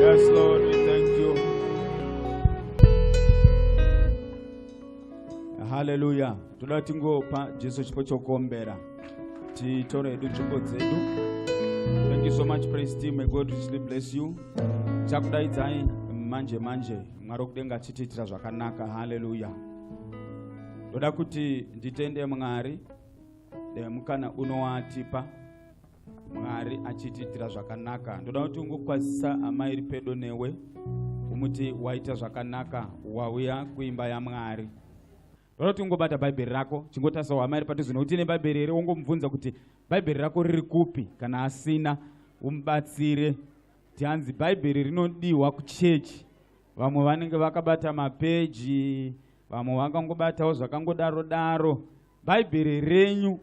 Yes, Lord, we thank you. Hallelujah. Toda tingopa Jesu chipo chokuombera. Titore hedu nzvimbo dzedu. Thank you so much praise team. May God richly bless you. Chakudaidzai manje manje. mwari wekudenga achitiitira zvakanaka haleluya ndoda kuti nditende mwari nemukana unowatipa mwari achitiitira zvakanaka ndoda kuti ungokwazisa amai iri pedo newe umuti waita zvakanaka wauya kuimba yamwari ndoda kuti ungobata bhaibheri rako chingotarisa hama iri padhuze nekuti ine bhaibheri here wongomubvunza kuti bhaibheri rako riri kupi kana asina umubatsire Tianzi bhaibheri rinodiwa kuchechi vamwe vanenge vakabata mapeji vamwe vakangobatawo zvakangodaro daro bhaibheri renyu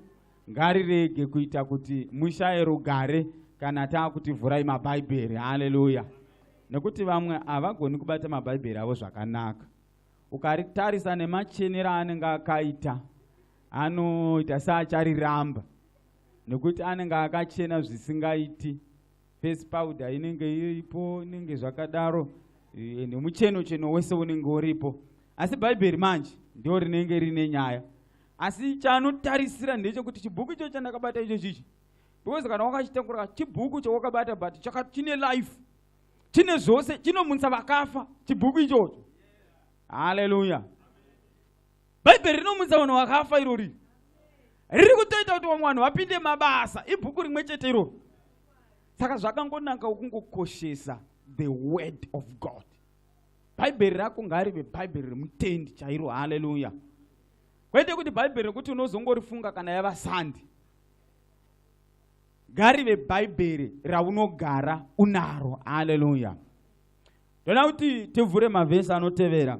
ngarirege kuita kuti mushaye rugare kana taakuti vhurai mabhaibheri haleluya nekuti vamwe havagoni kubata mabhaibheri avo zvakanaka ukaritarisa nemachenero aanenge akaita anoita seachariramba nekuti anenge akachena zvisingaiti face powder inenge iripo inenge zvakadaro eh, ende mucheno cheno wese unenge uripo asi bhaibheri manje ndo rinenge rine nyaya asi chanotarisira ndechekuti chibhuku icho chandakabata icho chichi because kana wakachitakura chibhuku chawakabata but chine life chine zvose chinomunisa vakafa chibhuku ichocho haleluya bhaibheri rinomudza vanhu vakafa irori riri kutoita kuti vamwe vanhu vapinde mabasa ibhuku rimwe chete irori saka zvakangonaka ukungokoshesa the word of god bhaibheri rako ngarive bhaibheri remutendi chairo haleluya kwete kuti bhaibheri rekuti unozongorifunga kana yava sandi ngarive bhaibheri raunogara unaro haleluya ndoda kuti tivhure mavhesi anotevera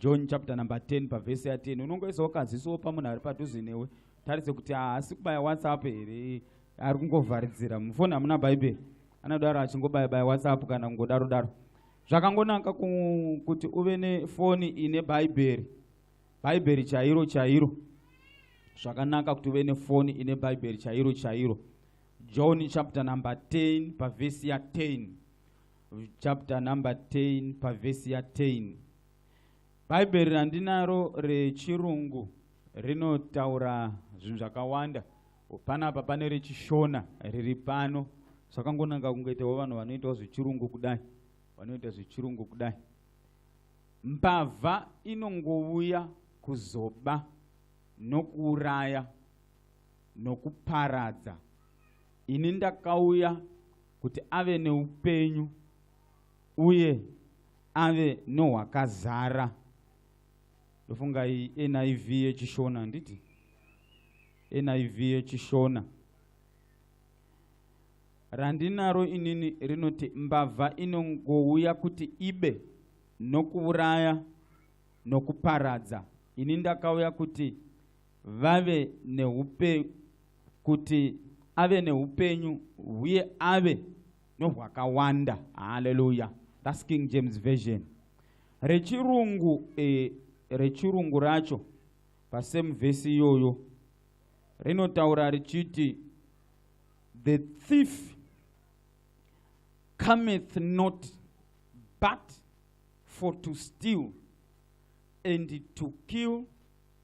john chapter number 10 pavhesi ya 10 unongoisawo kazisowo pamunhu ari padhuze newe tarise kuti haasi kubaya whatsapp here ari kungovharidzira mufoni hamuna bhaibheri anodaro achingobaya baya whatsapp kana kungodaro daro zvakangonaka kuti uve nefoni ine bhaibheri bhaibheri chairo chairo zvakanaka kuti uve nefoni ine bhaibheri chairo chairo john chapter number 10 pavhesi ya 10 chapter number 10 pavhesi ya 10 bhaibheri randinaro rechirungu rinotaura zvinhu zvakawanda panapa pane rechishona riri pano zvakangonanga kungoitawo vanhu vanoitawo zvechirungu kudai vanoita zvechirungu kudai mbavha inongouya kuzoba nokuuraya nokuparadza ini ndakauya kuti ave neupenyu uye ave nohwakazara ndofunga iyi niv yechishona handiti niv yechishona randinaro inini rinoti mbavha inongouya kuti ibe nokuuraya nokuparadza ini ndakauya kuti vave neupe kuti ave neupenyu huye ave nohwakawanda haleluya thats king james version rechirungu eh, rechirungu racho pasame vhesi iyoyo rinotaura richiti the thief cometh not but for to steal and to kill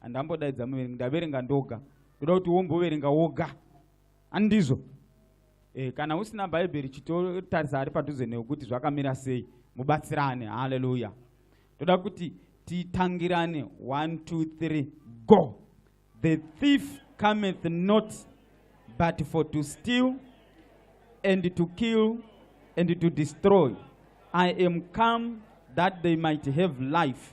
handambodaidza muverengi ndaverenga ndoga ndoda kuti womboverenga woga andizvo e, eh, kana usina bhaibheri chitotarisa ari padhuze newe kuti zvakamira sei mubatsirane haleluya ndoda kuti titangirane 1 2 3 go the thief cometh not but for to steal and to kill and to destroy i am come that they might have life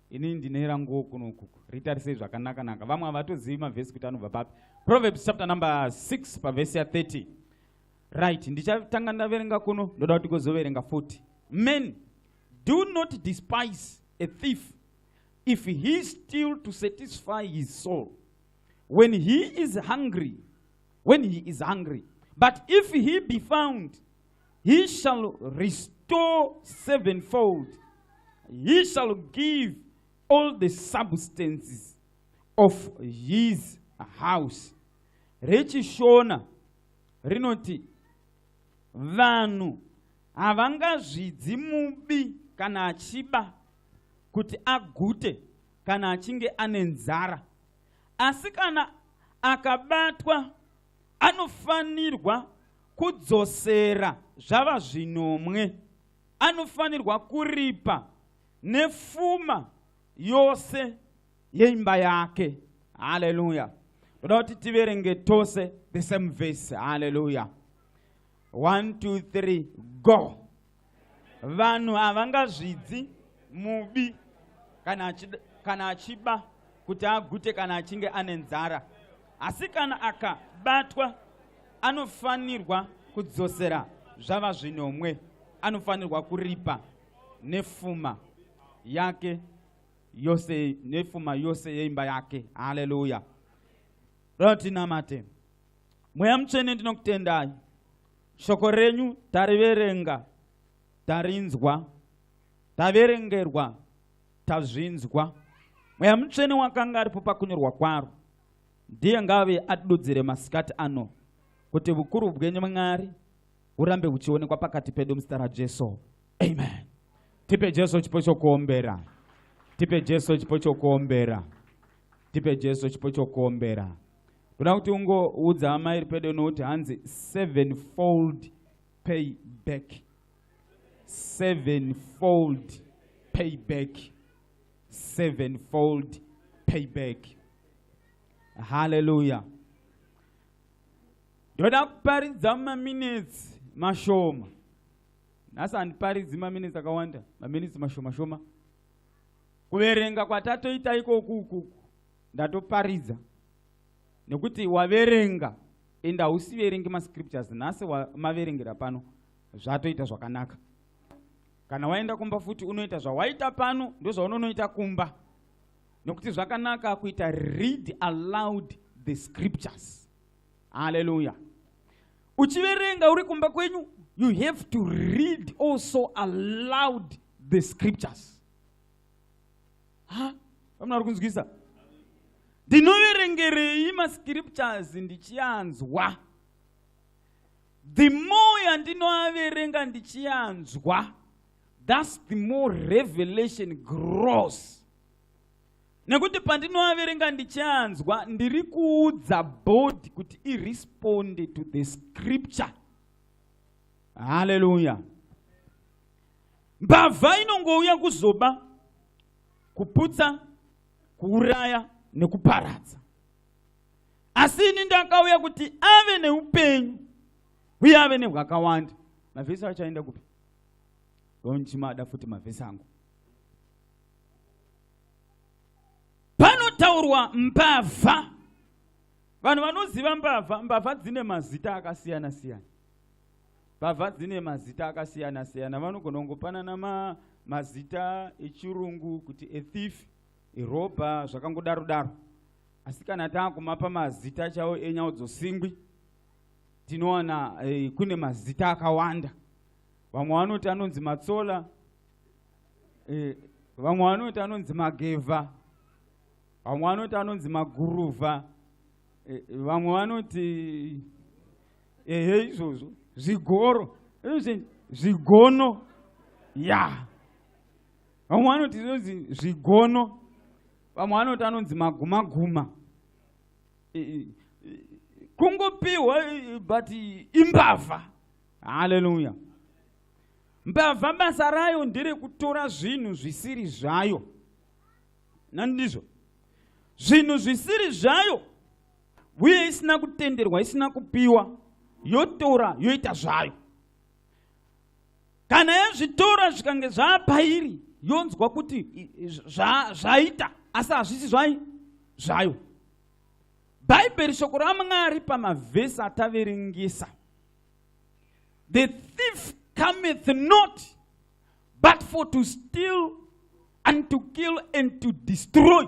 ini ndine ranguwo kuno ukuku ritarisei zvakanakanaka vamwe havatozivi mavhesi kuti anobva papi proverbs chapter number 6 pavhesi ya 30 right ndichatanga ndaverenga kuno ndoda kuti gozoverenga 40 men do not despise a thief if he still to satisfy his soul when he is hungry when he is hungry but if he be found He shall restore sevenfold. He shall give all the substances of his house. RechiShona rinoti vanhu havangazvidzi mubi kana achiba kuti agute kana achinge ane nzara asi kana akabatwa anofanirwa kudzosera zvava zvinomwe anofanirwa kuripa nefuma yose yeimba yake haleluya ndoda kuti tiverenge tose the same verse haleluya one two three go vanhu havangazvidzi mubi kana achida kana achiba kuti agute kana achinge ane nzara asi kana akabatwa anofanirwa kudzosera zvava zvinomwe anofanirwa kuripa nefuma yake yose nefuma yose yeimba yake haleluya rotinamate mweya mutsvene ndinokutendai shoko renyu tariverenga tarinzwa taverengerwa tazvinzwa mweya mutsvene wakanga aripo pakunyorwa kwaro ndiye ngave atidudzire masikati ano kuti vukuru bwenyu mwari urambe uchionekwa pakati pedu muzita rajesu amen tipe jesu chipo chokuombera tipe jesu chipo chokuombera tipe jesu chipo chokuombera ndoda kuti ungoudza amai iri pedo nokuti hanzi seven fold pay back seven fold pay back seven fold pay back halleluya ndoda kuparidza maminitsi mashoma nhasi handiparidzi maminitsi akawanda maminitsi mashoma shoma kuverenga kwatatoita ikoku ukuku ndatoparidza nekuti waverenga and hausiverengi mascriptures nhasi maverengera pano zvatoita zvakanaka kana waenda kumba futi unoita zvawaita pano ndozvaunonoita kumba nokuti zvakanaka kuita read aloud the scriptures haleluya uchiverenga uri kumba kwenyu you have to read also aloud the scriptures ha vamuna vari kunzwisa ndinoverengerei mascriptures ndichianzwa the more yandinoaverenga ndichianzwa thus the more revelation grows nekuti pandinoaverenga ndichianzwa ndiri kuudza body kuti iresponde to the scripture haleluya Mbavha inongouya kuzoba, kuputsa, kuuraya nekuparadza. Asi ini ndakauya kuti ave neupenyu uye ave nehwakawanda. Mavhesi achaenda kupi? Ndonchimada futi mavhesi angu. Panotaurwa mbavha. Vanhu vanoziva mbavha, mbavha dzine mazita akasiyana siyana. Mbavha dzine mazita akasiyana siyana, vanogona kungopanana ma, mazita echirungu kuti a thief, a robber zvakangodaro daro. Asi kana taakumapa mazita chavo enyawo dzosingwi tinowana eh, kune mazita akawanda. Vamwe vanoti anonzi matsola, eh, vamwe vanoti anonzi magevha, vamwe vanoti anonzi maguruva, eh, vamwe vanoti ehe izvozvo zvigoro zvigono ya vamwe vanoti zvinonzi zvigono vamwe vanoti anonzi magumaguma kungopiwa but imbavha haleluya mbavha basa rayo nderekutora zvinhu zvisiri zvayo nandizvo zvinhu zvisiri zvayo uye isina kutenderwa isina kupiwa yotora yoita zvayo kana yazvitora zvikange zvaapairi yonzwa kuti zvaita asi hazvisi zvai zvayo bhaibheri shoko ramwari pamavhesi ataverengesa the thief cometh not but for to steal and to kill and to destroy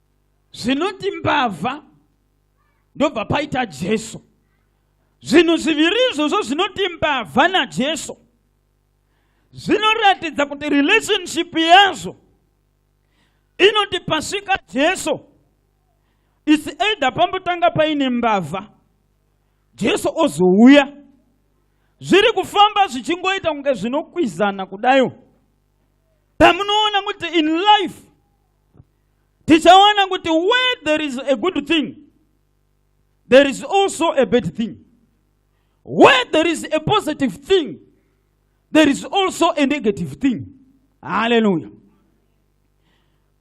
zvinoti mbavha ndobva paita jesu zvinhu zviviri izvozvo zvinoti mbavha najesu zvinoratidza kuti relationship yazvo inoti pasvika jesu its either pambotanga paine mbavha jesu ozouya zviri kufamba zvichingoita kunge zvinokwizana kudayo pamunoona kuti in life tichaona kuti where there is a good thing there is also a bad thing where there is a positive thing there is also a negative thing haleluya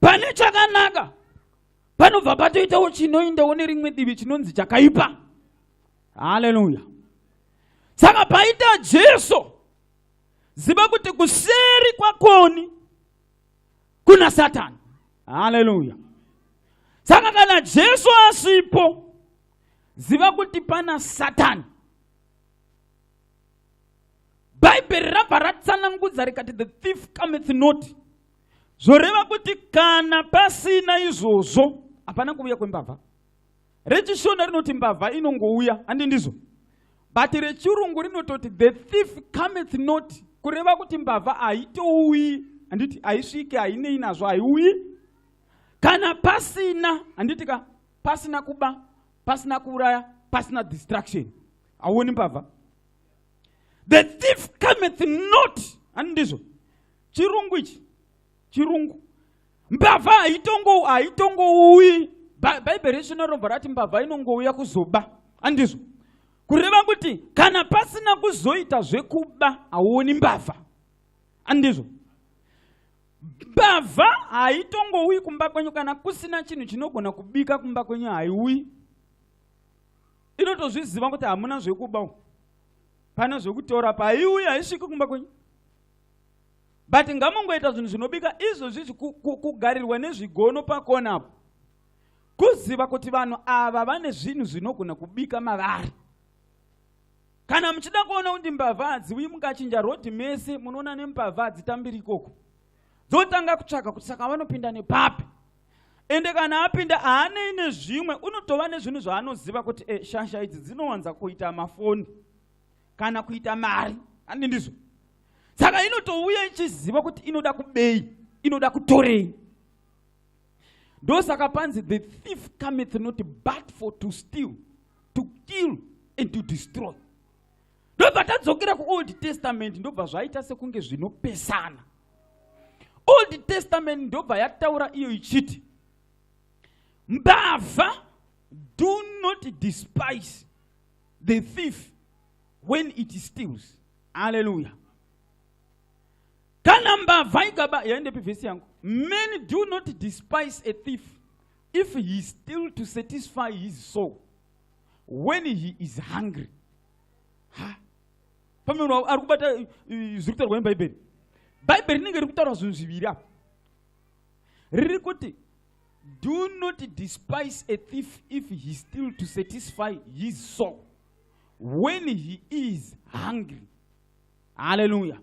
pane chakanaka panobva patoitawo chinoindawo nerimwe divi chinonzi chakaipa haleluya saka paita jesu ziva kuti kuseri kwakoni kuna satani haleluya saka kana jesu asipo ziva kuti pana satani bhaibheri rabva ratsanangudza rikati the thief cometh not zvoreva kuti kana pasina izvozvo hapana kuuya kwembavha RechiShona rinoti mbavha inongouya, handi ndizvo? But reChirungu rinototi the thief cometh not, kureva kuti mbavha haitouyi, handiti haisvike, hainei nazvo, haiuyi. Kana pasina, handiti ka, pasina kuba, pasina kuuraya, pasina distraction, hauoni mbavha. The thief cometh not, handi ndizvo? Chirungu ichi chirungu mbavha haitongo haitongouyi bhaibheri resu norobva rati mbavha inongouya kuzoba andizvo kureva kuti kana pasina kuzoita zvekuba hauoni mbavha andizvo mbavha haitongouyi kumba kwenyu kana kusina chinhu chinogona kubika kumba kwenyu haiuyi inotozviziva kuti hamuna zvekuba pane zvekutora paiuyi haisviki kumba kwenyu but ngamongoita zvinhu zvinobika izvozvi kugarirwa nezvigono pakona apo kuziva kuti vanhu ava vane zvinhu zvinogona kubika mavari kana muchida kuona kuti mbavha hadziuyi mukachinja rodhi mese munoona nembavha hadzitambiri ikoko dzotanga kutsvaka kuti saka vanopinda nepapi ende kana apinda haanei nezvimwe unotova nezvinhu zvaanoziva kuti e, shasha idzi dzinowanza kuita mafoni kana kuita mari handi ndizvo saka inotouya ichiziva kuti inoda kubei inoda kutorei ndosaka panzi the thief cometh not but for to steal to kill and to destroy ndobva tadzokera kuold testament ndobva zvaita sekunge zvinopesana old testament ndobva yataura iyo ichiti mbavha do not despise the thief when it steals haleluya kana mbavha ikaba yaendepi vhesi yangu many do not despise a thief if he still to satisfy his soul when he is hungry ha pamwe munhu ari kubata eh, eh, zviri kutaurwa nebhaibheri bhaibheri rinenge riri kutaura zvinhu zviviri apa riri kuti Do not despise a thief if he steal to satisfy his soul when he is hungry. Hallelujah.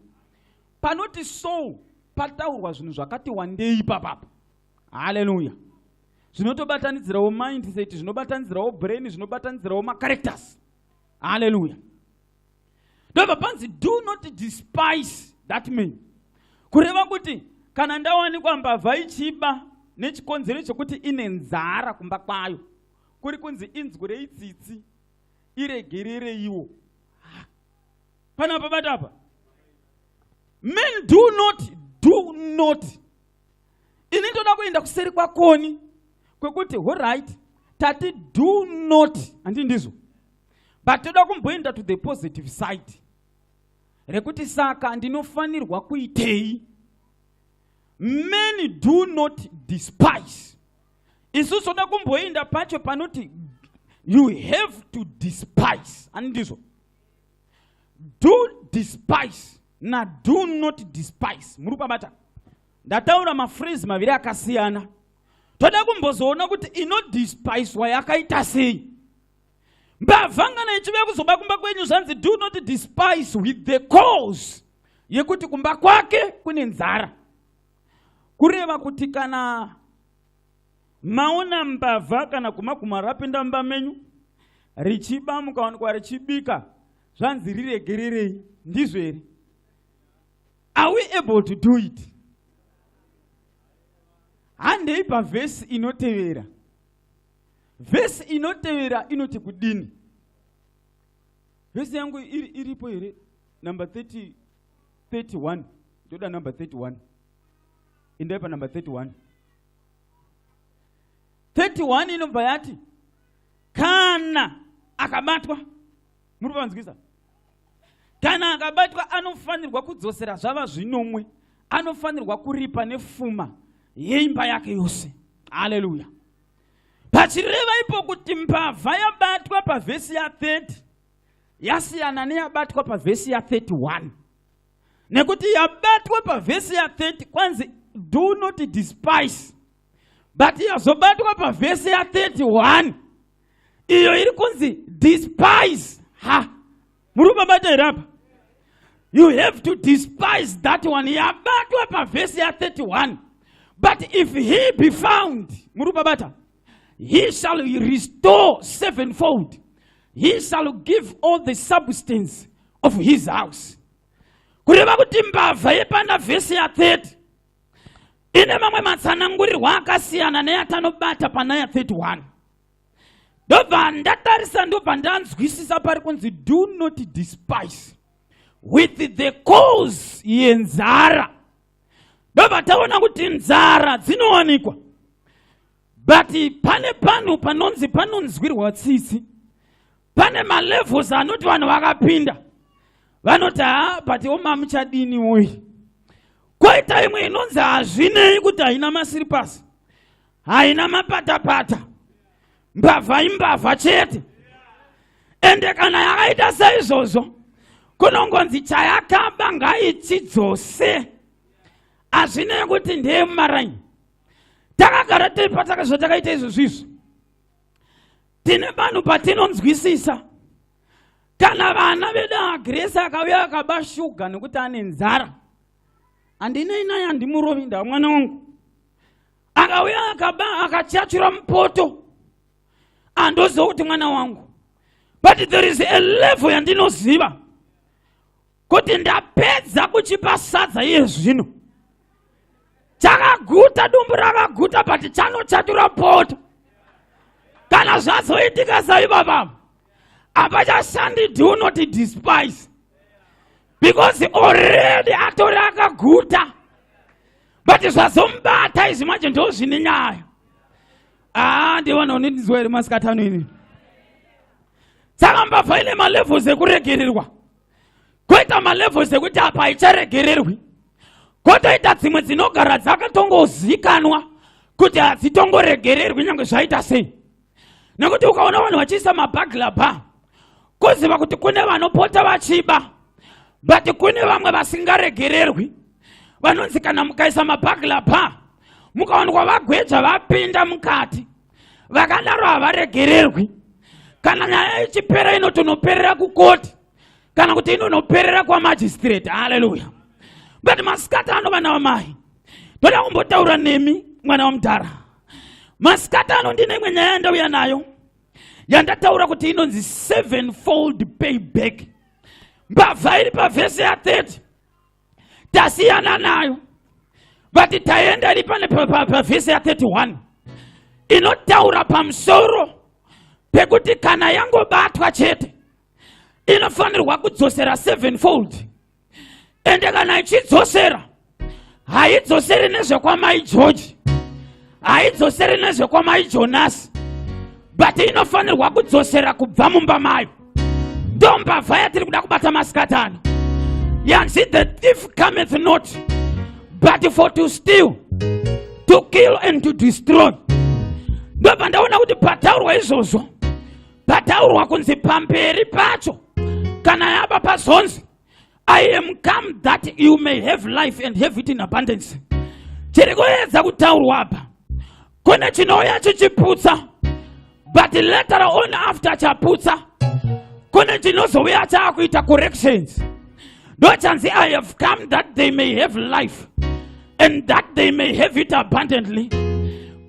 Panoti soul pataurwa zvinhu zvakati wandei papapa. Hallelujah. Zvinotobatanidzirawo mindset, zvinobatanidzirawo brain, zvinobatanidzirawo macharacters. Hallelujah. ndobva panzi do not despise that man kureva kuti kana ndawanikwa mbavha ichiba nechikonzero chekuti ine nzara kumba kwayo kuri kunzi inzwi reitsitsi iregerereiwo pana pabata apa men do not do not ini ndoda kuenda kuseri kwakoni kwekuti horit tati do not handi ndizvo but toda kumboenda to the positive side rekuti saka ndinofanirwa kuitei many do not despise isu soda kumboenda pacho panoti you have to despise ani ndizvo do despise na do not despise muri kubabata ndataura mafreeze maviri akasiyana toda kumbozoona kuti inodispiswa yakaita sei mbavha ngana ichive kuzoba kumba kwenyu zvanzi do not despise with the cause yekuti kumba kwake kune nzara kureva kuti kana maona mbavha kana kumaguma rapinda mumba menyu richiba mukawanikwa richibika zvanzi riregererei ndizvo here are we able to do it handei pavhesi inotevera vhesi inotevera inoti kudini vhesi yangu iri, iripo here number 30, 31 ndoda number 31 indai panumber 31 31 inobva yati kana akabatwa muri panzwisa kana akabatwa anofanirwa kudzosera zvava zvinomwe anofanirwa kuripa nefuma yeimba yake yose haleluya pachireva ipo kuti mbavha yabatwa pavhesi ya30 yasiyana neyabatwa pavhesi ya31 nekuti yabatwa pavhesi ya30 kwanzi do not despise but yazobatwa pavhesi ya31 iyo iri kunzi despise ha muri kubabata here apa you have to despise that one yabatwa pavhesi ya31 but if he be found muri kubabata he shall restore sevenfold he shall give all the substance of his house kureva kuti mbavha yepanda vhesi ya30 ine mamwe matsanangurirwa akasiyana neyatanobata pana ya31 ndobva ndatarisa ndobva ndanzwisisa pari kunzi do not despise with the cause yenzara ndobva taona kuti nzara dzinowanikwa but pane panhu panonzi panonzwirwa tsitsi pane malevels anoti vanhu vakapinda vanoti ha but omamuchadini woyi koita imwe inonzi hazvinei kuti haina masiripasi haina mapatapata mbavha imbavha chete ende kana yakaita seizvozvo kunongonzi chayakaba ngaichidzose hazvinei kuti ndeye mumaraini takagara tiri patakazva takaita izvozvo izvo tine vanhu patinonzwisisa kana vana vedu agresi akauya akaba shuga nekuti ane nzara handinei naye handimurovi ndaa mwana wangu akauya akaba akachatura mupoto andoziva kuti mwana wangu but there is a level yandinoziva kuti ndapedza kuchipa sadza iye zvino chakaguta dumbu rakaguta but chanochatura poto kana zvazoitika saivavavo hapachashandi do not despise because already atori akaguta but zvazomubata izvi manje ndo zvine nyaya aa ah, ndivana unindizwa here masikatano ini saka mbavha ine malevels ekuregererwa koita malevels ekuti apa haicharegererwi kotoita dzimwe dzinogara dzakatongozikanwa kuti hadzitongoregererwi nyange zvaita sei nekuti ukaona vanhu vachiisa mabagla ba kuziva kuti kune vanopota vachiba but kune vamwe vasingaregererwi vanonzi kana mukaisa mabagla ba mukaonekwa vagweja vapinda mukati vakadaro havaregererwi kana nyaya ichipera inotonoperera kukoti kana kuti inonoperera kwamajistrate haleluya but masikati ano vana vamai ndoda kumbotaura nemi mwana wamudhara masikati ano ndine imwe nyaya yandauya nayo yandataura kuti inonzi sevenfold payback mbavha iri pavhese ya30 tasiyana nayo vati taenda iri pane pavhese ya31 inotaura pamusoro pekuti kana yangobatwa chete inofanirwa kudzosera sevenfold ende kana ichidzosera haidzoseri nezvekwamai george haidzoseri nezvekwamai jonasi but inofanirwa kudzosera kubva mumba mayo ndombavha yatiri kuda kubata masikati ano yanzi the thief cometh not but for to steal to kill and to destroy ndopandaona kuti pataurwa izvozvo pataurwa kunzi pamberi pacho kana yaba pazonzi i am come that you may have life and have it in abundance chiri kuedza kutaurwa apa kune chinouya chichiputsa but later on after chaputsa kune chinozouya chaakuita corrections ndochanzi i have come that they may have life and that they may have it abundantly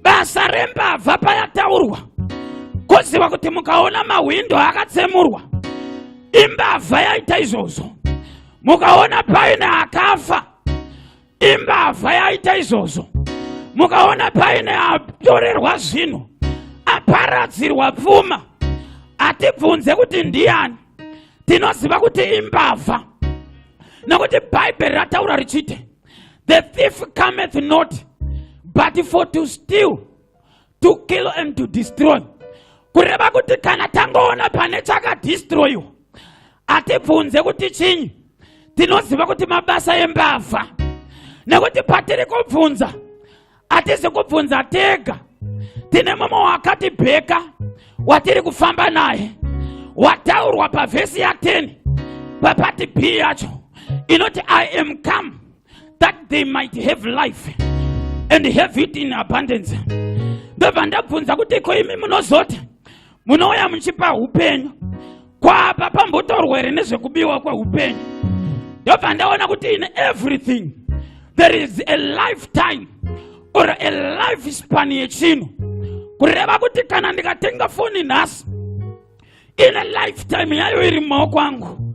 basa rembavha payataurwa koziva kuti mukaona mahwindo akatsemurwa imbavha yaita izvozvo mukaona paine akafa imbavha yaita izvozvo mukaona paine atorerwa zvinhu aparadzirwa pfuma hatibvunze kuti ndiyani tinoziva kuti imbavha nokuti bhaibheri rataura richiti The thief cometh not but for to steal, to kill and to destroy. Kureva kuti kana tangoona pane chakadestroyiwa hatibvunze kuti chinyi, tinoziva kuti mabasa embavha nekuti patiri kubvunza hatisi kubvunza tega tine mumwe wakatibheka watiri kufamba naye wataurwa pavhesi ya10 papati b yacho inoti i am come that they might have life and have it in abundance ndobva ndabvunza kuti ko imi munozoti munouya muchipa upenyu kwapa pambotorwa here nezvekubiwa kweupenyu ndobva ndaona kuti in everything there is a lifetime or a life span yechinhu kureva kuti kana ndikatenga foni nhasi ine lifetime yayo iri mumaoko angu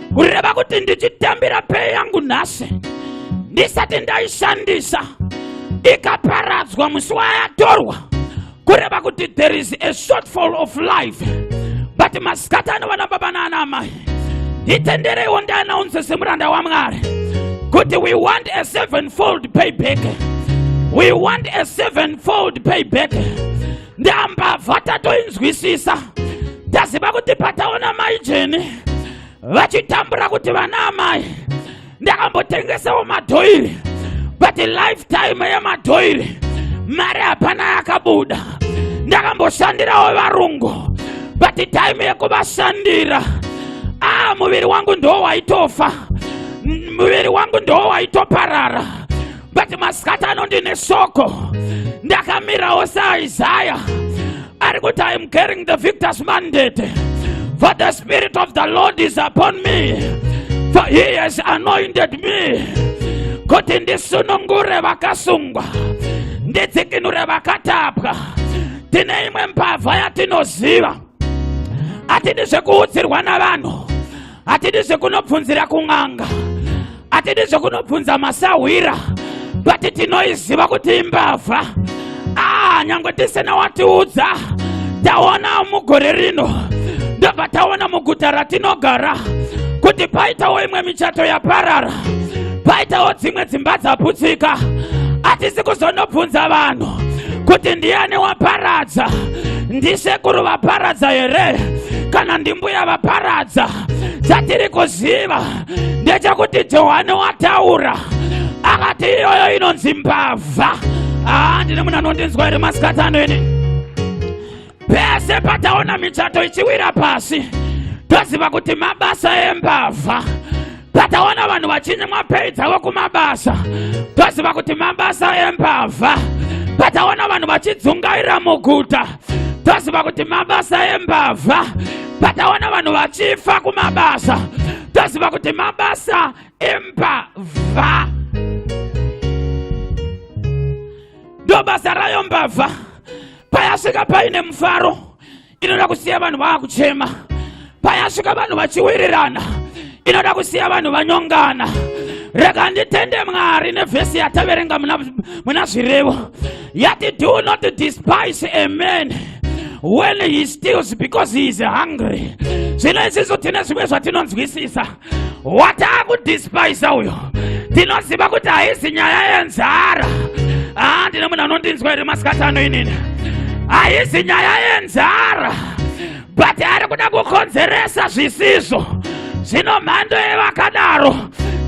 kureva kuti ndichitambira pei yangu nhasi ndisati ndaishandisa ikaparadzwa musi wayatorwa kureva kuti there is a shortfall of life but masikati ano vana baba naana amai nditendereiwo ndianaunze semuranda wamwari kuti we want a sevenfold payback we want a sevenfold payback ndambavha tatoinzwisisa ndaziva kuti pataona mai jeni vachitambura kuti vana amai ndakambotengesawo madhoiri but lifetime yemadhoiri mari hapana yakabuda ndakamboshandirawo varungu but time yekuvashandira ah muviri wangu ndoo waitofa muviri wangu ndoo waitoparara but masikati ano ndine soko ndakamirawo saaisaya ari kuti iam carrying the victors mandate for the spirit of the lord is upon me for he has anointed me kuti ndisunungure vakasungwa ndidzikinure vakatapwa tine imwe mbavha yatinoziva hatidi zvekuudzirwa navanhu hatidi zvekunobvunzira kun'anga hatidi zvekunobvunza masahwira but tinoiziva kuti imbavha ah nyange tisina watiudza taona mugore rino ndobva taona muguta ratinogara kuti paitawo imwe michato yaparara paitawo dzimwe dzimba dzaputsika hatisi kuzonobvunza vanhu kuti ndiani waparadza ndisekuru vaparadza here kana ndimbuya vaparadza chatiri kuziva ndechekuti johani wataura akati iyoyo inonzi mbavha aa ndine munhu anondinzwa here masikati ano ini pese pataona michato ichiwira pasi toziva kuti mabasa embavha Pataona vanhu vachinyimwa pei dzavo kumabasa, toziva kuti mabasa embavha. Pataona vanhu vachidzungaira muguta, toziva kuti mabasa embavha. Pataona vanhu vachifa kumabasa, toziva kuti mabasa embavha. Ndobasa rayo mbavha, payasvika paine mufaro inoda kusiya vanhu vaakuchema payasvika vanhu vachiwirirana inoda kusiya vanhu vanyongana rega nditende mwari nevhesi yataverenga muna zvirevo yati do not despise a man when he steals because he is hungry zvino isisu tine zvimwe zvatinonzwisisa wataakudespisa uyo ndinoziva kuti haizi nyaya yenzara haa ah, ndine munhu anondinzwa here masikati ano inini haizi nyaya yenzara but ari kuda kukonzeresa zvisizvo zvino mhando yevakadaro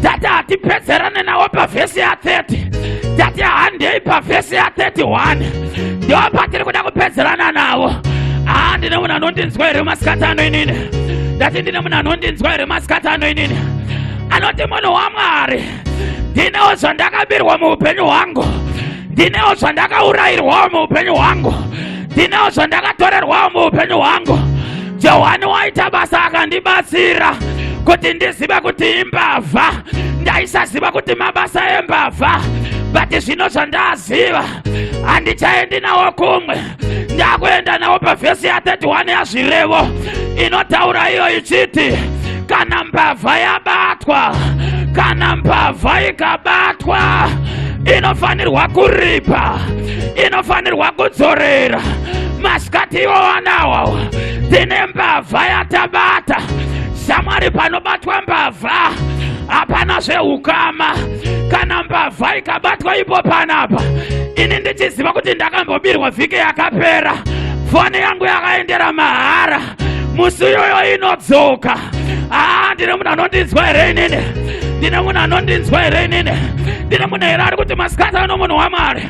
tati hatipedzerane nawo pavhesi ya30 tati handei pavhesi ya31 ndiwo patiri kuda kupedzerana navo haa ah, ndine munhu anondinzwa here masikati ano inini ndati ndine munhu anondinzwa here masikati ano inini anoti munhu wamwari ndinewo zvandakabirwa muupenyu hwangu ndinewo zvandakaurayirwawo muupenyu hwangu ndinewo zvandakatorerwawo muupenyu hwangu johani waita basa akandibatsira kuti ndizive kuti imbavha ndaisaziva kuti mabasa embavha but zvino zvandaziva handichaendi nawo kumwe ndakuenda nawo pavhesi ya31 yazvirevo inotaura iyo ichiti kana mbavha yabatwa kana mbavha ikabatwa inofanirwa kuripa inofanirwa kudzorera masikati iwo wanawawa tine mbavha yatabata samwari panobatwa mbavha hapana zveukama kana mbavha ikabatwa ipo panapa ini ndichiziva kuti ndakambobirwa vhiki yakapera foni yangu yakaendera mahara musi uyoyo inodzoka haa ndine munhu anondinzwa here inini ndine munhu anondinzwa here inini ndine munhu here ari kuti masikati ano munhu wamwari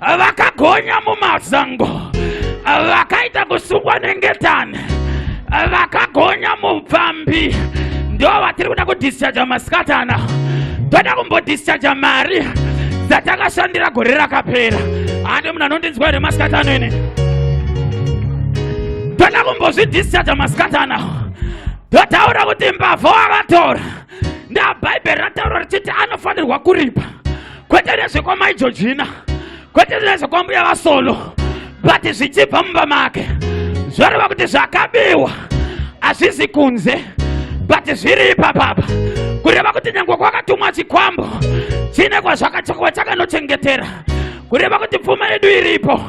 vakagonya mumazango vakaita kusungwa nengetani vakagonya mupfambi ndo vatiri kuda kudhischarja masikatana toda kumbodhischarja mari dzatakashandira gore rakapera handi munhu anondinzwa here masikatano ini toda kumbozvidhischarja masikatana totaura kuti mbavha wakatora ndabhaibheri rataura richiti anofanirwa kuripa kwete nezvekwamai jojina kwete nezvekwambuya vasolo but zvichibva mumba make zvoreva kuti zvakabiwa hazvizi kunze but zviri ipapapa kureva kuti nyange kwakatumwa chikwambo chine kwazvakachakwa chakanochengetera kureva kuti pfuma yedu iripo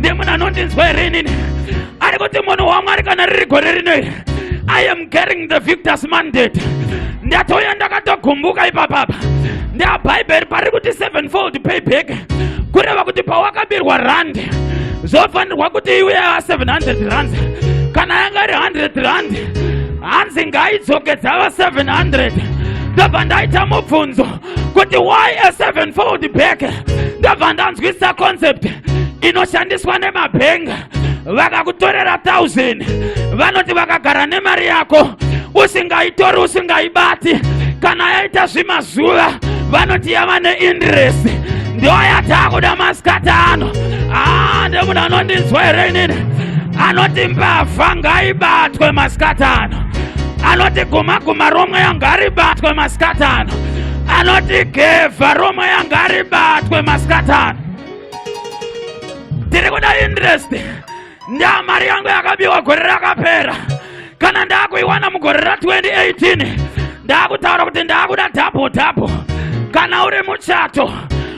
nemunhu anondinzwa here inini ari kuti munhu wamwari kana riri gore rino iri i am getting the victors mandate ndatouya ndakatogumbuka ipapapa ndabhaibheri pari kuti sevenfold payback kureva kuti pawakabirwa rand zvofanirwa kuti iwe a 700 rand kana yanga iri 100 rand hanzi ngaidzokedzava 700 ndobva ndaita mubvunzo kuti why a sevenfold back ndabva ndanzwisisa concept inoshandiswa nemabhenga vakakutorera 1000 vanoti vakagara nemari yako usingaitori usingaibati kana yaita zvimazuva vanoti yava neindiresi ndiyo yataakuda masikati ano aa ah, ndemunhu anondinzwa here inini anoti mbavha ngaibatwe masikati ano anoti gumaguma romweya ngaribatwe masikati ano anoti gevha romweya ngaribatwe masikati ano tiri kuda interest ndaa mari yangu yakabiwa gore rakapera kana ndaakuiwana mugore ra 2018 ndaakutaura kuti ndaakuda dhabo dhabo kana uri muchato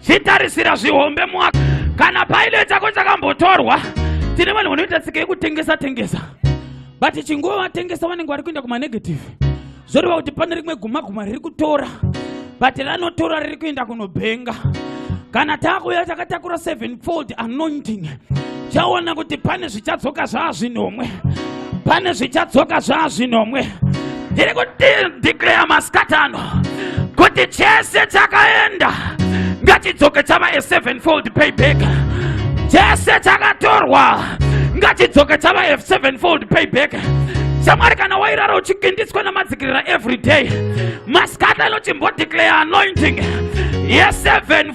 chitarisira zvihombe mwaka kana paile chako chakambotorwa tine vanhu vanoita tsika yekutengesa tengesa but chinguva vatengesa vanenge vari kuenda kumanegative zvoreva kuti pane rimwe guma guma riri kutora but ranotora riri kuenda kunobhenga kana takuya takatakura seven fold anointing chaona kuti pane zvichadzoka zvaazvinomwe pane zvichadzoka zvaazvinomwe ndiri kudeclare masikati ano kuti chese chakaenda ngachidzoke chava a sevenfold payback chese chakatorwa ngachidzoke chava a sevenfold payback shamwari kana wairara uchigindiswa namadzikirira every day masikati anochimbodeclare anointing yeseven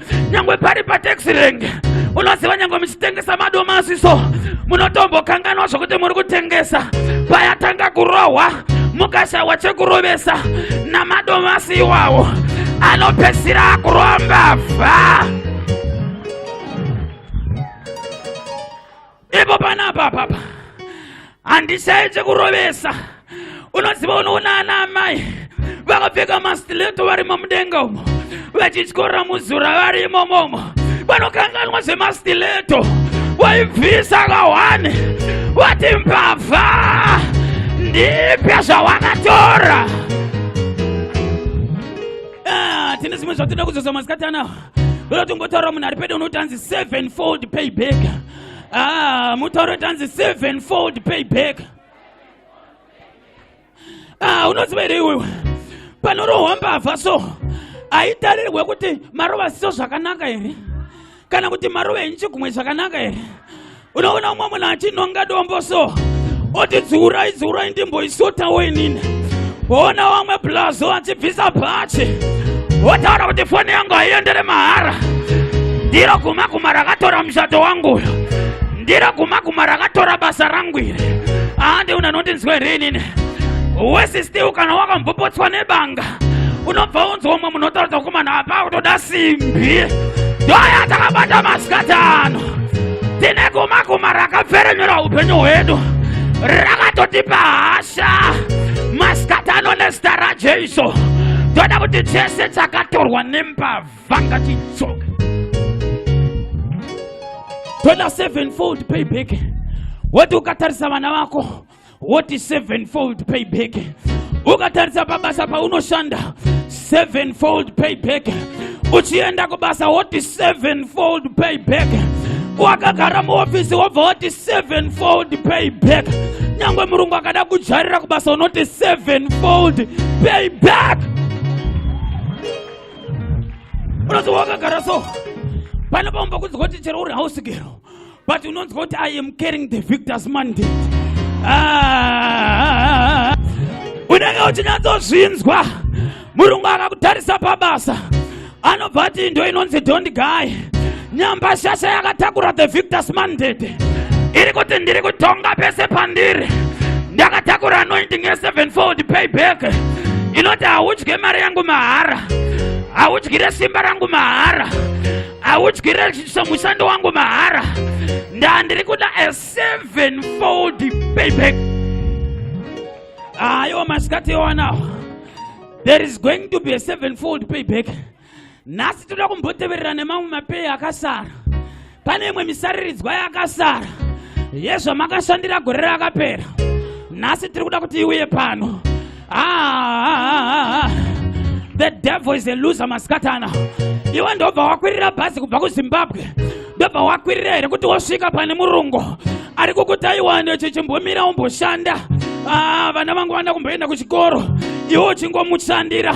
nyangwe pari pataxi rank unoziva nyangwe muchitengesa madomasi so munotombokanganwa zvokuti muri kutengesa payatanga kurohwa mukashaiwa chekurovesa namadomasi iwawo anopesira akuromba vha ipo panapa apapa handishayi chekurovesa unoziva unoona ana amai vakapfeka mastileto varimo mudenga umo vachityorera muzura vari imomomo vanokanganwa zvemastileto waibvisa kahwani wati mbavha ndipya zvawakatora ah, tine zvimwe zvatinoda kuzoza masikati anawa Loti ngotaura munhu ari pedo unoti anzi seven fold pay back. Ah, mutauro kuti anzi seven fold pay back. Ah, unoziva here iwewe? Panorohwa mbavha so haitarirwe kuti marova siso zvakanaka here? Kana kuti marova enchi kumwe zvakanaka here? unoona umwe munhu achinhonga dombo so oti dziurai dziurai ndimboisotawo inini woona wamwe blazo achibvisa bhachi wotaura kuti foni yangu haiendere mahara ndiro guma guma rakatora mushato wangu uyo ndiro guma guma rakatora basa rangu iri ahandi una nondinzwa here inini wesi still kana wakambopotswa nebanga unobva unzwa umwe munhu otaura kuti kumana apa kutoda simbi ndoya takabata masikati ano tine guma guma rakapferenyura upenyu hwedu rakatotipa hasha masikatano nezita rajesu toda kuti chese chakatorwa nembavha ngachidzoke toda sevenfold payback woti ukatarisa vana vako woti sevenfold payback ukatarisa pabasa paunoshanda sevenfold payback uchienda kubasa woti sevenfold payback wakagara muofisi wobva woti sevenfold payback nyangwe murungu akada kujarira kubasa unoti sevenfold payback unoziwa wakagara so pane paumba kunzi kuti chero uri hausigero but unonzwa kuti i am carrying the victors mandate ah, unenge uchinyatsozvinzwa murungu akakutarisa pabasa anobva ati indo inonzi don't guy nyamba shasha yakatakura the victors mandate iri kuti ndiri kutonga pese pandiri ndakatakura anointing yesevenfold payback inoti haudye mari yangu mahara haudyire simba rangu mahara haudyire somushando wangu mahara ndandiri kuda a seven fold payback ayo ah, masikati ewanawo there is going to be a seven fold payback nhasi toda kumboteverera nemamwe mapei akasara pane imwe misariridzwa yakasara yezvamakashandira gore rakapera nhasi tiri kuda kuti iuye pano Ah, the devil is a loser maskatana iwe ndobva wakwirira bhazi kubva kuzimbabwe ndobva wakwirira here kuti wosvika pane murungu ari kukutaiwani chichimbomira umboshanda ah, vana vangu vana kumboenda kuchikoro iwe uchingomushandira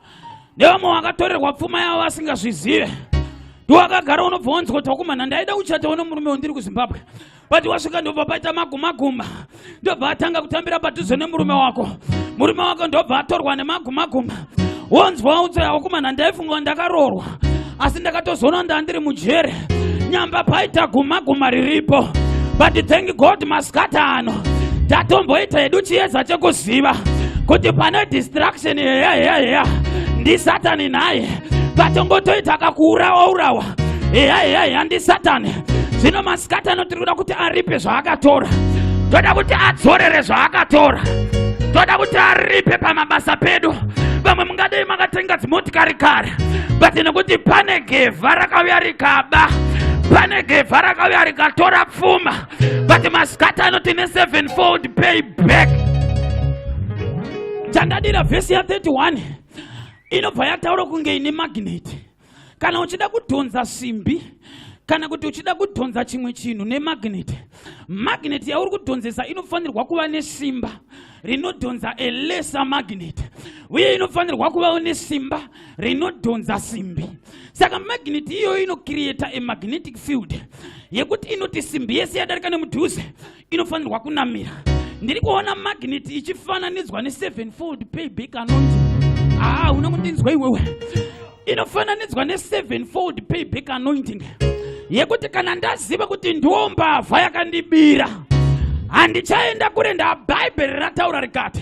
nevamwe vakatorerwa pfuma yavo vasingazvizive ndiwakagara unobva wanzwa kuti wakumana ndaida kuchatawo nemurume wandiri kuzimbabwe but wasvika ndobva paita magumaguma ndobva atanga kutambira padhuze nemurume wako murume wako ndobva atorwa nemagumaguma wonzwa utsaya wakumana ndaifunga ndakaroorwa asi ndakatozoona ndandiri mujere nyamba paita guma guma riripo but thank god maskata ano tatomboita hedu chiyedza chekuziva kuti pane distraction heya heya heya ndisatani naye katongotoita kakuurawa urawa heya heya heya ndisatani zvino masikati anoti tinoda kuti aripe zvaakatora toda kuti adzorere zvaakatora toda kuti aripe pamabasa pedu vamwe mungadei makatenga dzimotikari kare but nekuti pane gevha rakauya rikaba pane gevha rakauya rikatora pfuma but masikata anoti ne 7 fold pay back chandadira vhesi ya 31 inobva yataura kunge ine magneti kana uchida kudhonza simbi kana kuti uchida kudhonza chimwe chinhu nemagneti magneti yauri kudhonzesa inofanirwa kuva nesimba rinodhonza elesa magneti uye inofanirwa kuvawo nesimba rinodhonza simbi saka magneti iyoyo inokiriyeta emagnetic field yekuti inoti simbi yese yadarika nemudhuze inofanirwa kunamira ndiri kuona magneti ichifananidzwa nesevenfold payback anondi haa una kundinzwa iwewe inofananidzwa nesevenfold payback anointing yekuti kana ndaziva kuti ndiwo mbavha yakandibira handichaenda kure ndaa bhaibheri rataura rikati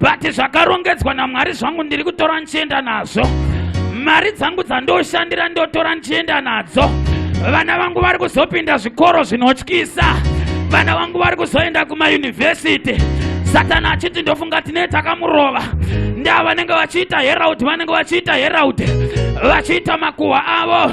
but zvakarongedzwa namwari zvangu ndiri kutora ndichienda nazvo mari dzangu dzandoshandira ndotora ndichienda nadzo vana vangu vari kuzopinda zvikoro zvinotyisa vana vangu vari kuzoenda kumayunivhesiti satana achiti ndofunga tine takamurova ndaa vanenge vachiita heraud vanenge vachiita heraud vachiita makuhwa avo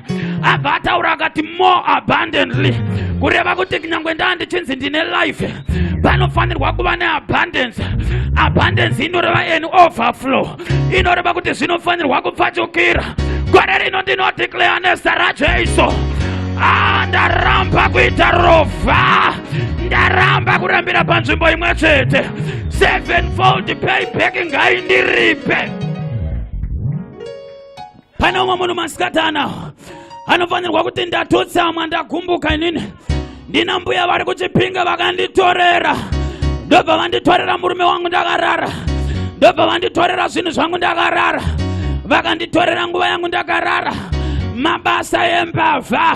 abva ataura akati more abundantly kureva kuti kunyange ndaa ndichinzi ndine life panofanirwa kuva neabundance abundance inoreva an overflow inoreva kuti zvinofanirwa kupfachukira gore rino ndinodeclare nezita rajesu ah, ndaramba kuita rova ndaramba kurambira panzvimbo imwe chete sevenfold payback ngaindiripe pane umwe munhu masikati anawo anofanirwa kuti ndatotsamwa ndagumbuka inini ndina mbuya vari kuchipinga vakanditorera ndobva vanditorera murume wangu ndakarara ndobva vanditorera zvinhu zvangu ndakarara vakanditorera nguva yangu ndakarara mabasa embavha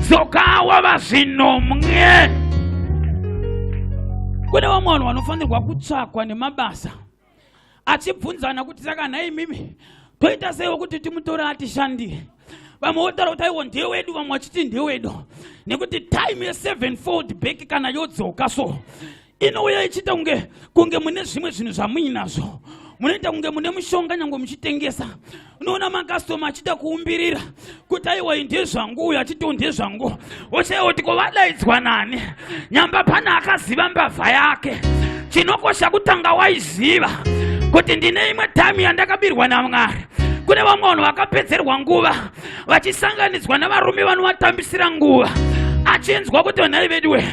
dzoka wava zvinomwe kune vamwe vanhu vanofanirwa kutsvakwa nemabasa achibvunzana kuti saka nhai mimi toita seiwo kuti timutore atishandire vamwe votaura kuti aiwo ndewedu vamwe vachiti ndewedu nekuti time yesevenfold back kana yodzoka so inouya ichiita kunge kunge mune zvimwe zvinhu zvamuinazvo munoita kunge mune mushonga nyange muchitengesa unoona makastoma achiita kuumbirira kuti aiwa ndezvangu uyo achitiwo ndezvangu woshaya kuti ko vadaidzwa nani nyamba pane akaziva mbavha yake chinokosha kutanga waiziva kuti ndine imwe time yandakabirwa namwari kune vamwe vanhu vakapedzerwa nguva vachisanganidzwa navarume vanovatambisira nguva achinzwa kuti vanhai veduwe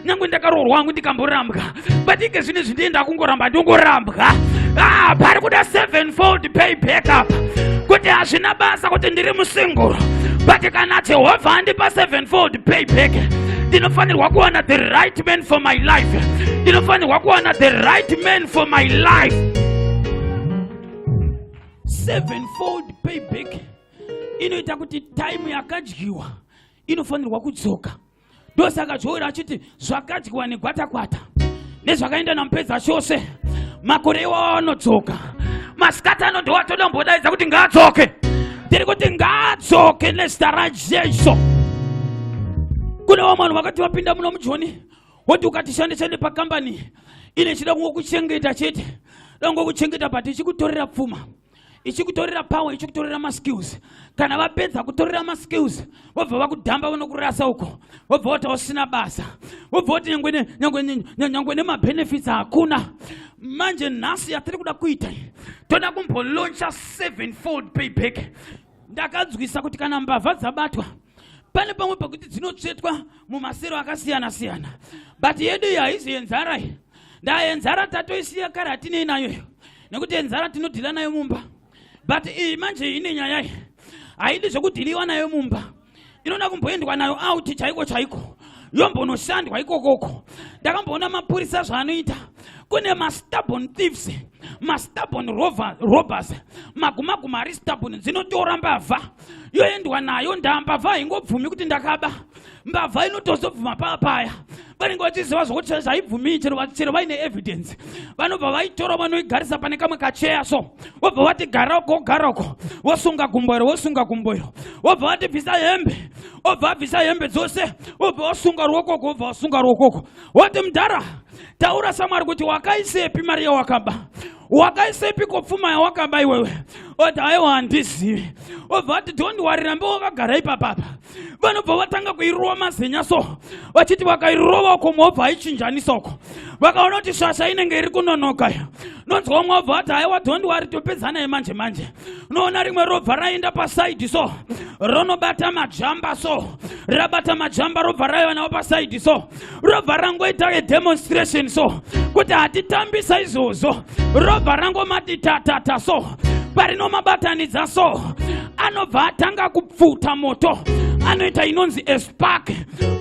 nyange ndakaroorwa hangu ndikamborambwa but ike zvine zvindienda kungoramba ndongorambwa ah, pari kuda sevenfold pay back up kuti hazvina basa kuti ndiri musinguro but kana jehovha andipa sevenfold pay back ndinofanirwa kuwana the right man for my life ndinofanirwa kuwana the right man for my life sevenfold pay back inoita kuti taimu yakadyiwa inofanirwa kudzoka ndosaka zvoira achiti zvakadyiwa negwatakwata nezvakaenda namupedza chose makore iwawo anodzoka masikati ano ndowatodombodaidza kuti ngaadzoke ndiri kuti ngaadzoke nezita rajesu kune vamwe vanhu vakati vapinda muno mujoni woti ukatishandisa nepakambani ine chida kungokuchengeta chete dangokuchengeta but ichikutorera pfuma ichikutorera power ichikutorera maskills kana vapedza kutorera maskills vobva vakudhamba vanokurasa uko vobva vati usina basa vobva vati nyangwe nemabenefits hakuna manje nhasi yatiri kuda kuita toda kumbolauncha sevenfold payback ndakanzwisa kuti kana mbavha dzabatwa pane pamwe pakuti dzinotsvetwa mumasero akasiyana siyana but yedu iyi haizi yenzara iyi ndaa yenzara tatoisiya kare hatinei nayo iyo nekuti yenzara tinodhila nayo mumba but iyi manje ine nyaya iyi haidi zvekudhiliwa nayo mumba inoda kumboendwa nayo auti chaiko chaiko yombonoshandwa ikokoko ndakamboona mapurisa zvaanoita kune mastabon thieves mastabon robbers magumaguma ari stabon dzinotora mbavha yoendwa nayo ndambavha haingobvumi kuti ndakaba mbavha inotozobvuma paa paya vanenge vachiziva zvokuti zvaibvumiyi chero vaine evidence vanobva vaitora vanoigarisa pane kamwe kacheya so vobva vati gara uko gara uko vosunga gumbo iro vosunga gumbo iro vobva vati bvisa hembe obva abvisa hembe dzose vobva vasunga ruokoko vobva vasunga ruokoko woti mudhara taura samwari kuti wakaisepi mari yawakaba wakaisepi kopfuma yawakaba iwewe oti aiwa handizivi obva vati don't wari rambe wakagara ipapapa vanobva vatanga kuirova mazenya so vachiti vakairova uko mwobva aichinjanisa uko vakaona kuti shasha inenge iri kunonoka iyo nonzwa umwe wabva ati haiwa dhondi wari topedzanai manje manje unoona rimwe robva raenda pasaidi so ronobata majamba so rabata majamba robva raiwanawo pasaidi so robva rangoita edemonstration so kuti hatitambisa izvozvo robva rangomati tatata so parinomabatanidza so anobva atanga ku pfuta moto anoita inonzi espark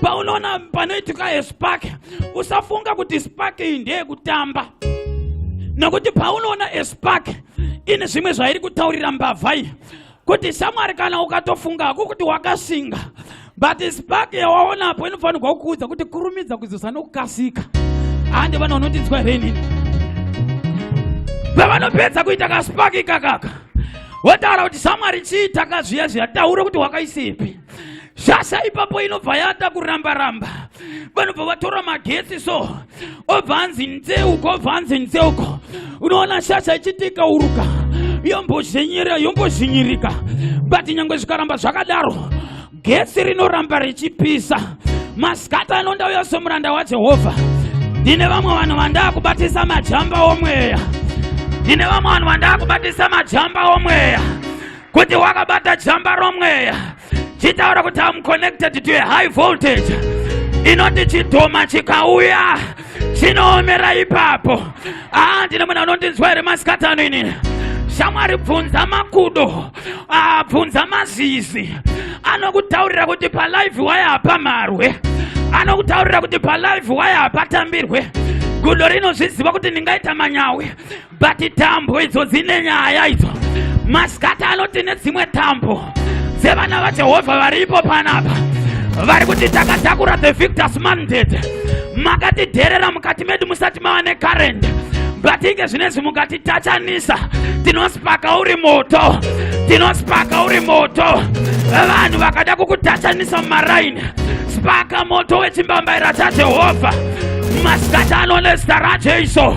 paunoona panoitika espark usafunga kuti spark iyi ndeyekutamba nokuti paunoona espark ine zvimwe zvairi kutaurira mbavha iyi kuti shamwari kana ukatofunga hako kuti wakasinga but spark yawaonapo inofanirwa kukuudza kuti kurumidza kuzosa nokukasika hande vana vanotinzwa here inini pavanopedza kuita kaspark ikakaka wotaura kuti samwari chii taka zviya zviya taure kuti wakaisepi shasha ipapo inobva yata kuramba ramba vanobva vatora magetsi so obva anzi nzeuko obva anzi nzeuko unoona shasha ichitika uruka yombozhenyera yombozhinyirika but nyangwe zvikaramba zvakadaro gesi rinoramba richipisa masikati ano ndauya somuranda wajehovha ndine vamwe vanhu vandaa kubatisa majamba omweya ndine vamwe vanhu vandaa kubatisa majamba omweya kuti wakabata jamba romweya chitaura kuti am connected to a high voltage inoti chidhoma chikauya chinoomera ipapo ah, ndine munhu anondinzwa here masikati ano inini shamwari bvunza makudo ah, bvunza mazizi anokutaurira kuti palive waye hapamarwe anokutaurira kuti palive waye hapatambirwe gudo rinozviziva kuti ndingaita manyawi but tambo idzo dzine nyaya idzo masikati ano tine dzimwe tambo dzevana vajehovha varipo panapa vari kuti takatakura the victors mandate makatidherera mukati medu musati mava nekarend but inge zvinezvi mukatitachanisa tinospaka uri moto tinospaka uri moto vanhu vakada kukutachanisa mumaraini spaka moto wechimbambaira chajehovha masikati ano nezita rajesu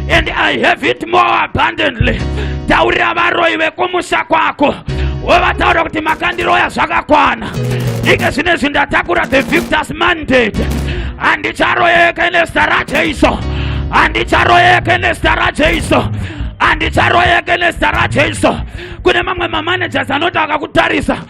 and i have it more abundantly taurira varoyi vekumusha kwako wovataura kuti makandiroya zvakakwana ike zvine zvi ndatakura the victors mandate handicharoyeke nezita rajeiso handicharoyeke nezita rajeiso handicharoyeke nezita rajeiso kune mamwe mamanagers anoti akakutarisa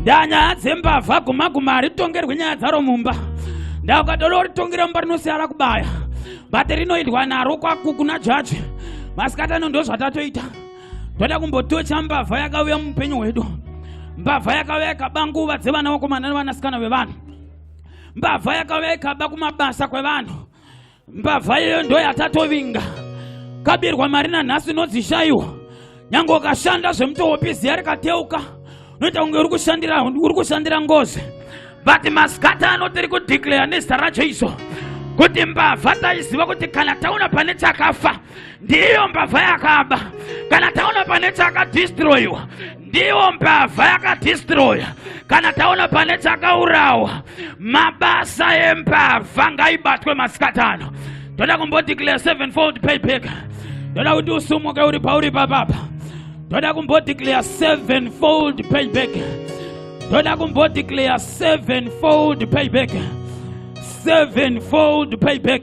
ndanyaya dzembavha guma guma haritongerwi nyaya dzaro mumba ndakatoloritongira mumba rinosiyara kubaya but rinoidwa naro kwakukuna jaji masikatano ndozvatatoita toda kumbotocha mbavha yakauya muupenyu hwedu mbavha yakauya ikaba nguva dzevana vakomana nevanasikana vevanhu mbavha yakauya ikaba kumabasa kwevanhu mbavha iyoyo ndo yatatovinga kabirwa mari nanhasi inodzishaiwa nyange ukashanda zvemutohopiziya rikateuka unoita kunge uri kushandira uri kushandira ngozi but masikata ano tiri kudeclare nezita racho izo kuti mbavha taiziva kuti kana taona pane chakafa ndiyo mbavha yakaba kana taona pane chakadistroyiwa ndiwo mbavha yakadhistroya kana taona pane chakaurawa mabasa embavha ngaibatwe masikati ano toda kumbodeclare seven fold payback toda kuti usumuke uri pauri papapa toda kumbodeclare seven fold payback toda kumbodeclare seven fold payback seven fold payback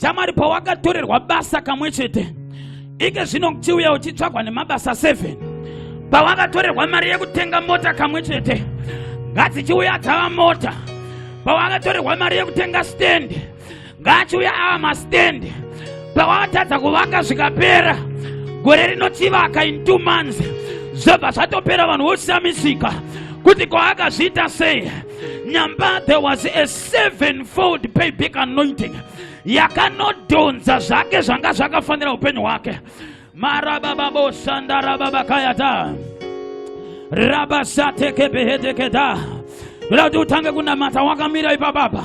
shamwari pawakatorerwa basa kamwe chete ike zvino uchiuya uchitsvagwa nemabasa 7 pawakatorerwa mari yekutenga mota kamwe chete ngadzichiuya dzava mota pawakatorerwa mari yekutenga stand ngaachiuya ava mastand pawakatadza kuvaka zvikapera gore rinochivaka in two months zvobva zvatopera vanhu voshamisika kuti kwaakazviita sei nyamba there was a sevenfold payback anointing yakanodhonza zvake zvanga zvakafanira upenyu hwake marabababoshandarababakayata rabasatekebehedekeda ndoda kuti utange kunamata wakamira ipapapa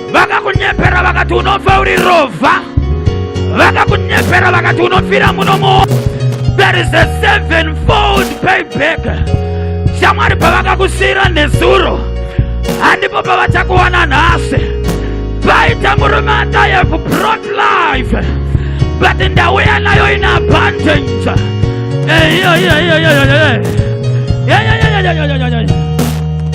vakakunyepera vakati unofa uri rovha vakakunyepera vakati unofira muno mu there is a seven fold payback shamwari pavakakusiyira nezuro handipo pavachakuwana nhasi paita murume andayeve brot life but ndauya nayo ine abundance eyoyoyoyoyoyo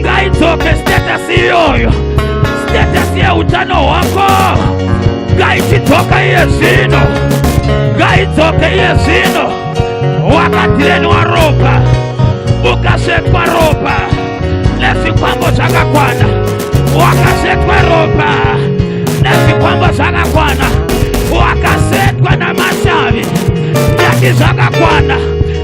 ngaidzoke status iyoyo status yeutano hwako ngaichidzoka iye zvino ngaidzoke iye zvino wakatirenwa ropa ukasvetwa ropa nezvikwambo zvakakwana wakasvetwa ropa nezvikwambo zvakakwana wakasetwa namashavi ndati zvakakwana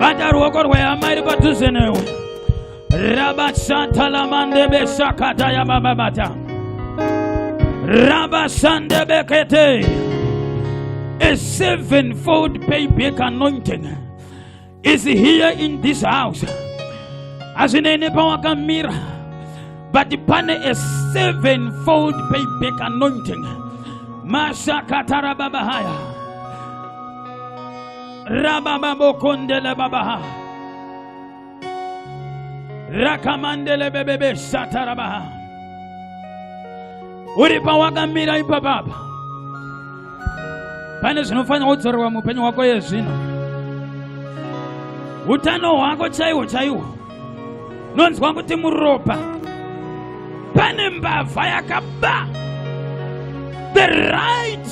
bata ruoko rwehama iri padhuze newe rabasatalamandebe sakata yabababata rabasandebekete a sevenfold payback anointing is here in this house hazvinei nepawakamira but pane a sevenfold payback anointing mashakatara baba haya rabababokondele babaha rakamandele bebebe satarabaha uri pawakamira ipapapa pane zvinofanira kudzorerwa muupenyu hwako yezvino utano hwako chaiwo chaiwo nonzwa kuti muropa pane mbavha yakaba the right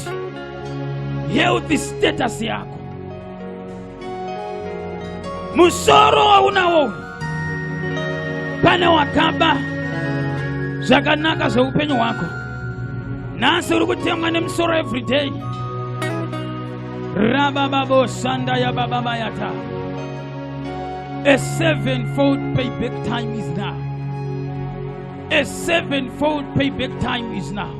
healthy status yako musoro waunawo uyu pane wakaba zvakanaka zveupenyu hwako nhasi uri kutemwa nemusoro everyday rabababo shanda yabababa yata A sevenfold payback time is now. A sevenfold payback time is now.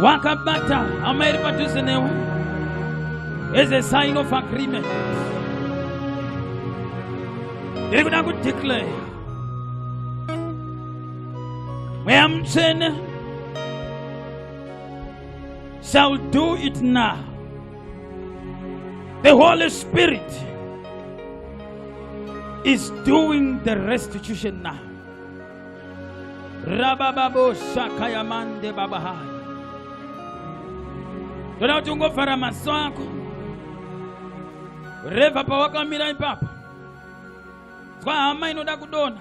Wakabata hama iri padhuze newe as a sign of agreement. Ndiri kuda kudeclare mweya mutsvene shall do it now. The Holy Spirit is doing the restitution now. Rabababo shakayamande babahaya. Toda kuti ungovhara maso ako. Reva pawakamira ipapo. Zwa hama inoda kudona.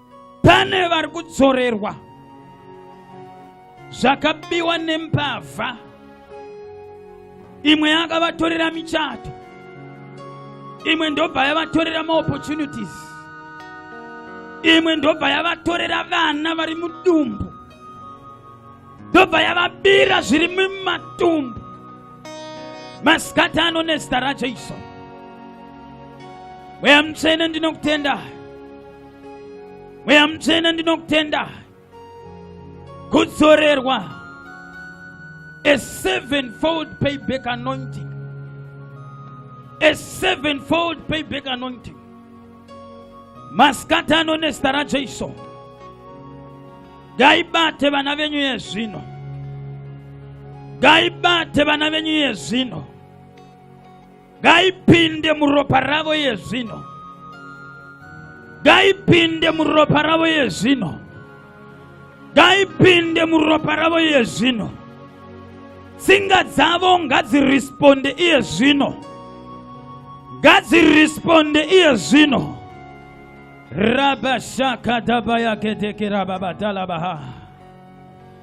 pane vari kudzorerwa zvakabiwa nembavha imwe yakavatorera michato imwe ndobva yavatorera maopportunities imwe ndobva yavatorera vana vari mudumbu ndobva yavabira zviri mumatumbu masikati ano nezita rajesu mweya mutsvene ndinokutendai mweya mutsvene ndinokutenda kudzorerwa a sevenfold payback anointing a sevenfold payback anointing masikati ano nezita rajesu ngaibate vana venyu yezvino ngaibate vana venyu yezvino ngaipinde muropa ravo yezvino ngaipinde muropa ravo yezvino ngaipinde muropa ravo yezvino tsinga dzavo ngadziresponde iye zvino ngadziresponde iye zvino rabashakadabayakedekerababadalabaha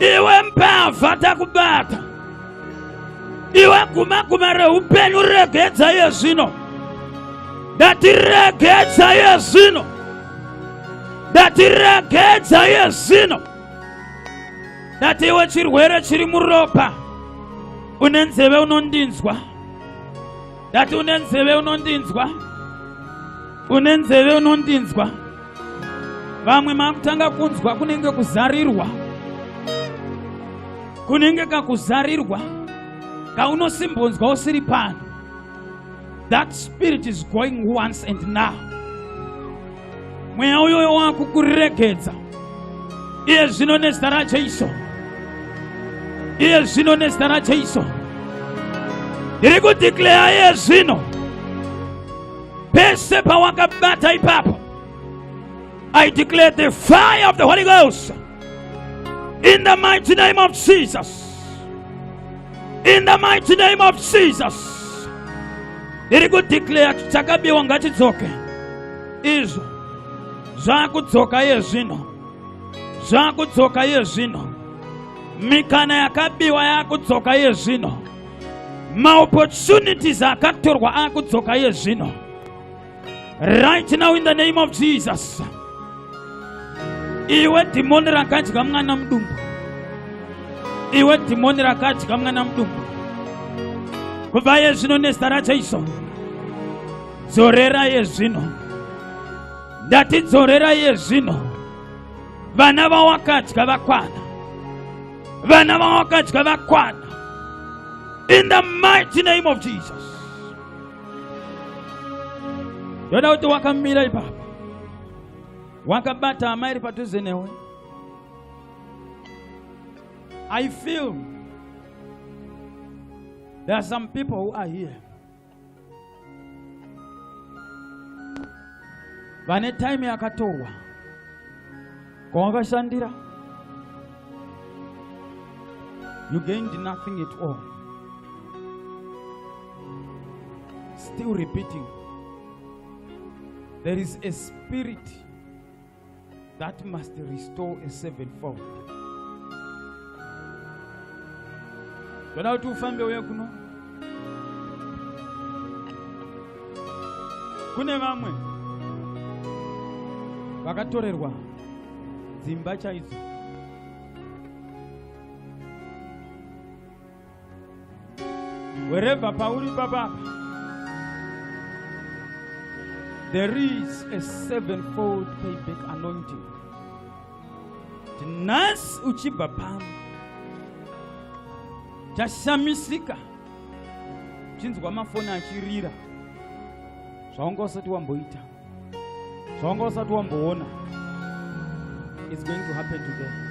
iwe mbavha takubata iwe guma guma reupenyu regedza iye zvino ndati regedza iye zvino ndati regedza iye zvino ndati iwe chirwere chiri muropa une nzeve unondinzwa ndati une nzeve unondinzwa une nzeve unondinzwa vamwe makutanga kunzwa kunenge kuzarirwa kunenge kakuzarirwa kaunosimbonzwa usiri pano that spirit is going once and now mweya uyoyo wakukuregedza iye zvino nezita rajesu iye zvino nezita rajesu ndiri kudhikleya iye zvino pese pawakabata ipapo i declare the fire of the holy ghost in the mighty name of jesus in the mighty name of jesus ndiri kudeclare kuti chakabiwa ngachidzoke izvo zvakudzoka iye zvino zvakudzoka iye zvino mikana yakabiwa yakudzoka iye zvino maopportunities akatorwa akudzoka iye zvino right now in the name of jesus iwe dhimoni rakadya mwana mudumbu iwe dhimoni rakadya mwana mudumbu kubva iye zvino nezita rajaiso dzorera iye zvino ndati dzorera iye zvino vana vawakadya vakwana vana vavo vakadya vakwana in the mighty name of jesus ndoda kuti wakamira ipapa wakabata hama iri padhuze newe i feel there are some people who are here vane time yakatorwa kwawakashandira you gained nothing at all still repeating there is a spirit that must restore a sevenfold ndoda kuti ufambe uye kuno kune vamwe vakatorerwa dzimba chaidzo Wherever pauri papa there is a sevenfold payback anointing. Tinasi uchibva pano tashamisika chinzwa mafoni achirira zvaunga usati wamboita zvawanga usati wamboona is going to happen today